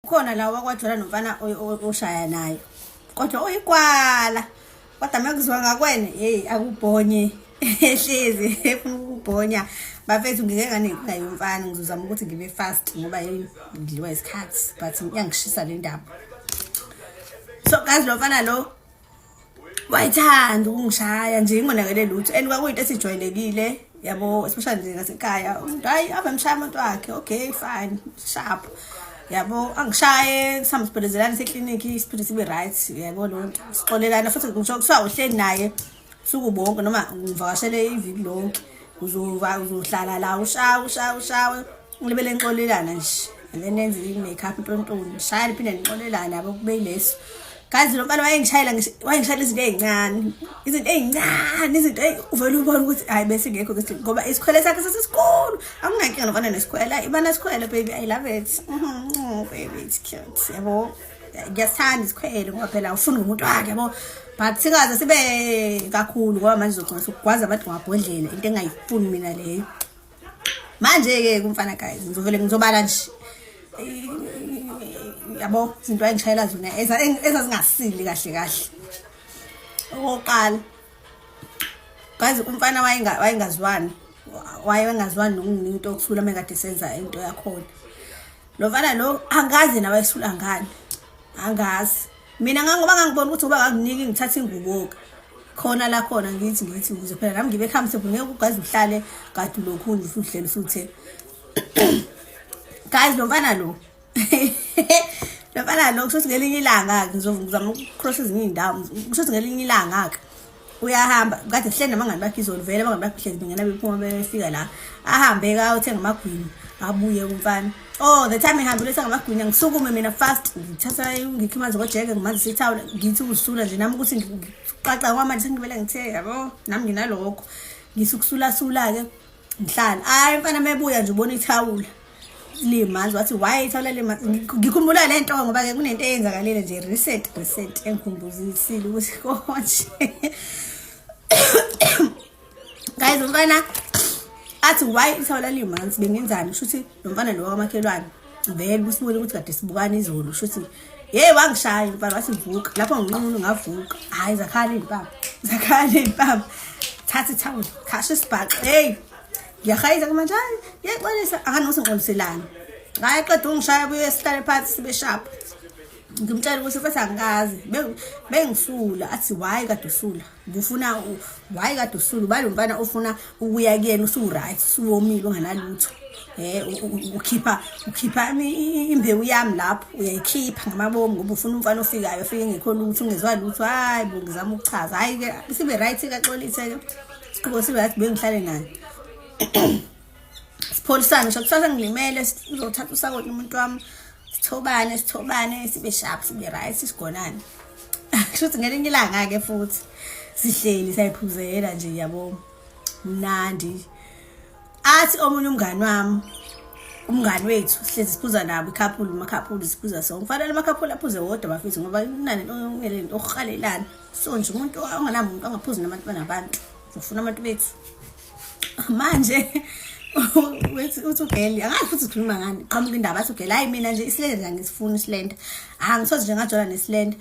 Ukhona la wakwaJola nomfana oshaya nayo. Kodwa uyikwala. Kodwa mekuzwa ngakwena, hey akubhonye. Ehlezi efuna ukubhonya. Bafethu ngike nganenkinga yomfana ngizozama ukuthi ngibe fast ngoba yini ngidliwa isikhathi but iyangishisa le ndaba. So kazi lo mfana lo wayethanda ukungishaya nje ingonakele lutho and kwakuyinto esijwayelekile yabo especially nje ngasekhaya umuntu hayi ave mshaya umuntu wakhe okay fine sharp yabo angishaye sihambe sibhelezelane seklinikhi siphinde sibe right yabo loo nto sixolelana futhi ngisho kuthiwa uhleli naye suku bonke noma ngivakashele iviki lonke uzohlala la ushawe ushawe ushawe Ngilibele nixolelana nje. Lenenze i-make up ntontoni. Shaya liphinde nixolelana yabo kube yileso. Kazi lo mfana wayengishayela wayengishayela izinto ezincane. Izinto ezincane, izinto uvela ubona ukuthi hayi bese ngekho ukuthi ngoba isikhwele sakhe sesikhulu. Akunankinga nokona nesikhwela. Ibana sikhwele baby. I love it. Mhm. Baby it's cute. Yabo. Ngiyasithanda isikhwele ngoba phela ufuna umuntu wakhe yabo. but singaze sibe kakhulu ngoba manje uzogcina sokugwaza abantu ngabhodlela into engayifuni mina leyo manje ke kumfana guys ngizovele ngizobala nje yabo izinto ayingishayela zona ezazingasili kahle kahle okokuqala guys umfana wayengazwani waye wengazwani nokunginika into yokuthula uma kade senza into yakhona lo mfana lo angazi nawe esula ngani angazi mina ngangoba ngangibona ukuthi uba ngakuniki ngithatha inguboka khona la khona ngithi ngithi ukuze phela nami ngibe comfortable ngeke ugazi uhlale kade lokhu uhlele usuthe guys lo mfana lo lo mfana lo kusho ukuthi ngelinye ilanga-ke ngizozama ukucross ezinye iy'ndawo kusho ukuthi ngelinye ilanga-ke uyahamba kade sihleli nabangani bakhe izolo vele abangani bakhe hlezi bengena bephuma befika la ahambe ka uthenga amagwini abuye kumfana oh the time ehambile uthenga amagwini ngisukume mina fast ngithatha ngikhe manzi kojeke ngimanzi sithawula ngithi ukusula nje nami ukuthi ngiqaqa kwamanje sengibele ngithe yabo nami nginalokho ngisukusulasula-ke ngihlala hayi mfana mebuya nje ubona ithawula limanzi wathi why ithawula limanzi ngikhumbula le nto ngoba-ke kunento eyenzakalile nje recent recent engikhumbuzisile ukuthi konje guys umfana athi why ithawula limanzi bengenzani kusho ukuthi lo mfana lo wakamakhelwane vele busibone ukuthi kade sibukana izolo shuthi yeyi wangishaya impama wathi vuka lapho nginqunu ngavuka hhayi zakhala iy'mpama zakhala iy'mpama thatha ithawula khasha isibhaxo heyi ngiyahayisa kumanje hayi ngiyaxolisa akanose ngixoliselani ngaye qeda ungishaya kuyo esihlale phansi sibe shapho ngimtshela ukuthi mfethu angikazi bengisula athi why kade usula kufuna why kade usulu balo mfana ofuna ukuya kuyena usuwuright usuwomile unganalutho um ukhipha ukhipha imbewu yami lapho uyayikhipha ngamabomu ngoba ufuna umfana ofikayo ofike ngekho lutho ungezwa lutho hhayi bo ngizama ukuchaza hhayi-ke sibe right kaxolithe-ke sibe right bengihlale naye sipholisane ngisho kusasa ngilimele sizothatha usakoti umuntu wami sithobane sithobane sibe sharp sibe right sigonane kushuthi ngelinye ilanga ke futhi sihleli sayiphuzela nje yabo mnandi athi omunye umngani wami umngani wethu sihlezi siphuza nabo ikhaphulu amakhaphulu siphuza so ngifanele amakhaphulu aphuze wodwa bafethu ngoba kunani ongelento ohalelana so nje umuntu ongenamuntu angaphuzi nabantu banabantu ufuna abantu bethu manje uthi ugeli angazi futhi sikhuluma ngani qhamuka indaba athi ugeli hayi mina nje isilenda nje angisifuni isilenda angisoze nje ngajola nesilenda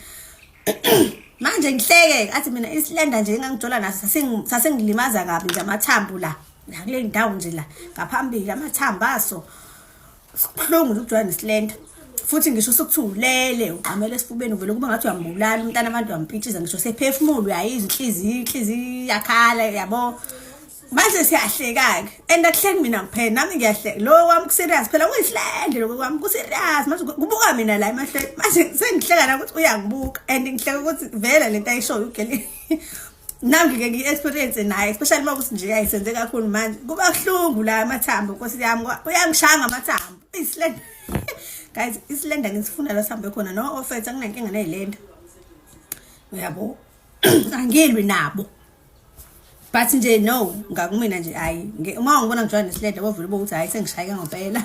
manje ngihleke athi mina isilenda nje engangijola naso sasengilimaza kabi nje amathambo la kule ndawo nje la ngaphambili amathambo aso Sibuhlungu ukujwa nesilento. Futhi ngisho sokuthulele ugqamela esifubeni uvele kuba ngathi uyambulala umntana abantu wampitshiza ngisho sephefumulo uyayizwa inhliziyo inhliziyo yakhala yabo. Manje siyahlekake and akuhleki mina kuphela nami ngiyahleka lo wami kuserious phela kuyihlende lokho kwami kuserious manje kubuka mina la emahlweni manje sengihleka la ukuthi uyangibuka and ngihleka ukuthi vele lento ayishoyo ugele nami-ke ngi-experience naye especially uma kuthi nje ayisenze kakhulu manje kuba buhlungu la amathambo nkosi yami uyangishaya ngamathambo isilenda guys isilenda ngisifuna la sihambe khona no ofet anginankinga neyilenda uyabo angilwi nabo but nje no ngakumina nje hayi uma ungibona ngijwayele nesilenda wovula uba ukuthi hhayi sengishayeke ngempela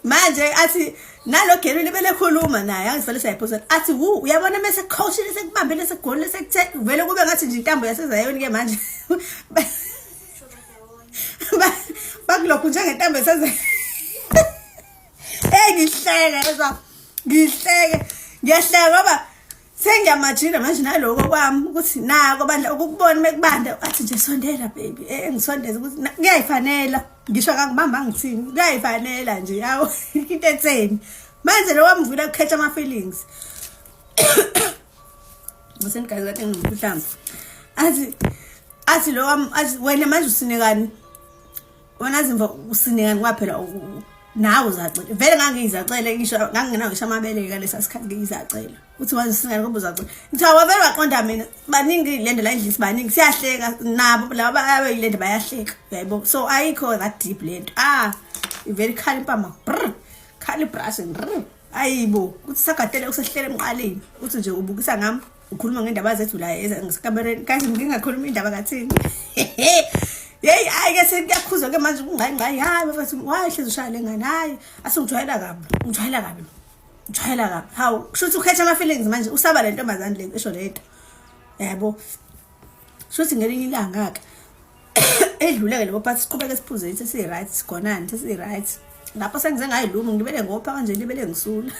manje athi nalo gerwini belekhuluma naye angivele sayiphosa athi wu uyabona mese coachile sekubambele sekugolile sekuthe vele kube ngathi nje intambo yasezayoni ke manje bakulokhu njengentambo yaseze hey ngihleke yezwa ngihleke ngiyahleka ngoba Sengiyamajira manje naloko kwami ukuthi nako bandla ukukubona mekubanda athi nje sondela baby eh ngisondeza ukuthi kuyayifanela ngisho kakubamba ngithini kuyayifanela nje yawo into etseni manje lo wamvula ukhetha ama feelings ngisengazi kathi ngikuhlamba athi athi lo wam athi wena manje usinekani wena zimva usinekani kwaphela nawe uzacela vele ngangiyizacele ngisho ngangingenawo ngisho amabele kalesa sikhathi ngiyizacela uthi manje singane ngoba uzacela ngithiwa wavele waqonda mina baningi lento la endlisi baningi siyahleka nabo laba abayilento bayahleka uyayibo so ayikho that deep lento ah ivele ikhala impama brr khala ibrashi brr ayibo uthi sagadele usehlele emqaleni uthi nje ubukisa ngami ukhuluma ngendaba zethu la ezikamereni kahle ngingakhuluma indaba kathini yeyi hayi ke sekuyakhuzwa ke manje kungqayingqayi hayi bafethu waye hlezi ushaya le ngane hayi asingijwayela kabi ngijwayela kabi ngijwayela kabi hawu kusho ukuthi ukhetha ama-feelings manje usaba le ntombazane le esho le nto yabo kusho ukuthi ngelinye ilanga-ke edluleke lebo phathi siqhubeke siphuze ithi siyi-right sigonani ithi siyi-right lapho sengize ngayilumi ngibele ngopha kanje libele ngisula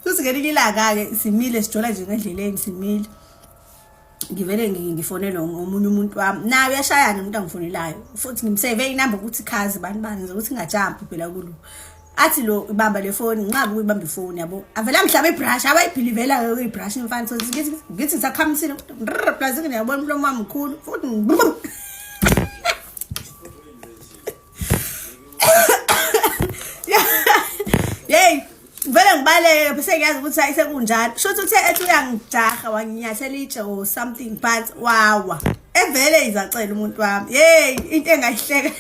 futhi ngelinye ilanga-ke simile sijola nje ngendleleni simile ngivele ngifonele omunye umuntu wami naye uyashayana umuntu angifonelayo futhi ngimseve inamba ukuthi khazi bani bani ukuthi ngajampi phela kulo athi lo ibamba le foni nqaba ukuyibamba ifoni yabo avela mhlaba ibrush abayibhilivela ke ibrush imfana so ngithi ngithi ngisakhamsile plus ngiyabona umlomo wami mkhulu futhi yey vele ngibaleke bese ngiyazi ukuthi ayisekunjalo sho ukuthi uthe ethi uyangijaha wanginyathela itshe or something but wawa evele izacela umuntu wami hey into engayihleka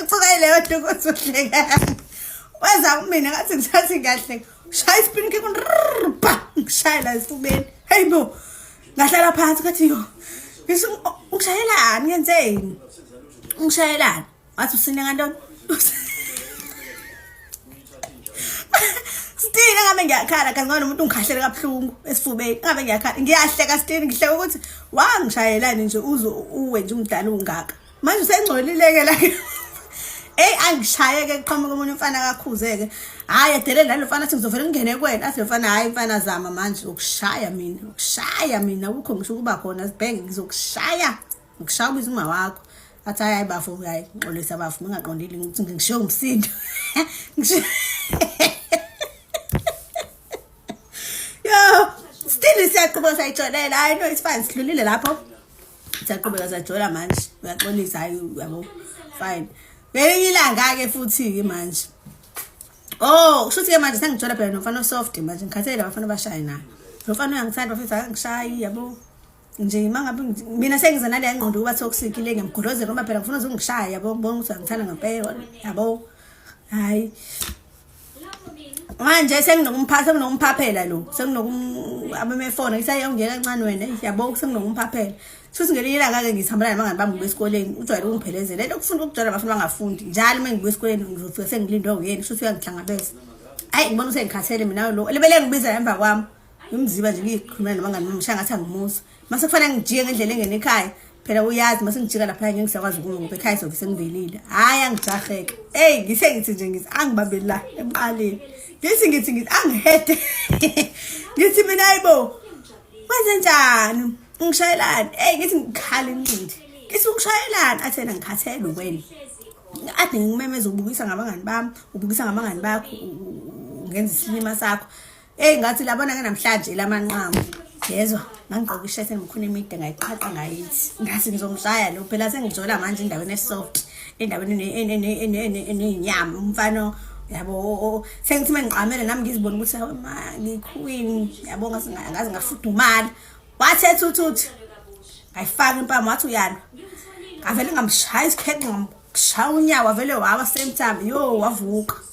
uthuka ileyo nto ukuthi uhleka wenza kumina ngathi ngisathi ngiyahleka shaya isipini ke kunrpa ngishayela esifubeni hey bo ngahlala phansi kathi yo ngisho oh, ungishayelani ngenzeni ungishayelani wathi usine ngantoni Stini ngabe ngiyakhala kazi ngoba nomuntu ungikhahlele kabuhlungu esifubeni ngabe ngiyakhala ngiyahleka Stini ngihleka ukuthi wangishayelani nje uzo uwe nje umdala ungaka manje usengcolileke la Ey angishayeke kuqhamuka umuntu umfana kakhuzeke hayi edelela lo mfana athi ngizovela ngingene kwena athi lo mfana hayi mfana zama manje ukushaya mina ukushaya mina ukho ngisho ukuba khona sibhenge ngizokushaya ngishaya ubiza uma wakho athi hayi bafo hayi ngixolisa bafo ngingaqondile ngithi ngishiye umsindo yo still siyaqhubeka sayitsholela hayi no it's fine sidlulile lapho siyaqhubeka sajola manje uyaxolisa hayi yabo fine ngelinye ilanga-ke futhi-ke manje oh kusho ukuthi-ke manje sengijola phela nomfana osoft manje ngikhathele labafana abashaye naye lo mfana uyangithanda bafethu akangishayi yabo nje mangabe mina sengize nale yangqondo ukuba toxic le ngiyamgolozela uma phela ngifuna uzungishaya yabo ngibona ukuthi uyangithanda ngempela yabo hayi manje senginokumphatha senginokumphaphela lo senginokum abemefona ngisayongena kancane wena yabo senginokumphaphela futhi ngelinye ilanga-ke ngihambela nabangani bami ngibuya esikoleni ujwayele ungiphelezela le nto kufunda ukujwayela abafuni bangafundi njalo uma ngibuya esikoleni ngizofika sengilindwe uyena futhi uyangihlangabeza ayi ngibona usengikhathele mina lo elibele ngibiza emva kwami ngimziba nje ngiyikhulumela nabangani bami shaya ngathi angimusa mase kufanele ngijike ngendlela engene ekhaya phela uyazi mase ngijika lapha ngeke ngisakwazi ukuma ngoba ekhaya sobe sengivelile hayi angijaheke eyi ngithe ngithi nje ngithi angibambeli la emqaleni ngithi ngithi ngithi angihede ngithi mina ayibo kwenze njani ngishayelani eyi ngithi ngikhala incindi ngithi ukushayelani athena ngikhathele ukwena ade ngimemeza ubukisa ngabangani bami ubukisa ngabangani bakho ungenza isilima sakho Hey ngathi labona ke namhlanje lamanqamu. Yezwa, ngangigqoka ishirt engikhona emide ngayiqhaqa ngayithi. Ngathi ngizomshaya lo phela sengijola manje endaweni esoft, endaweni enenyama umfana yabo sengithi mengiqamele nami ngizibona ukuthi hawe ma ngiqueen yabo ngaze ngaze ngafudumala. Wathi ethuthuthi. Ngayifaka impama wathi uyana. Ngavele ngamshaya isikheqe ngamshaya unyawo vele wawa same time. Yo wavuka.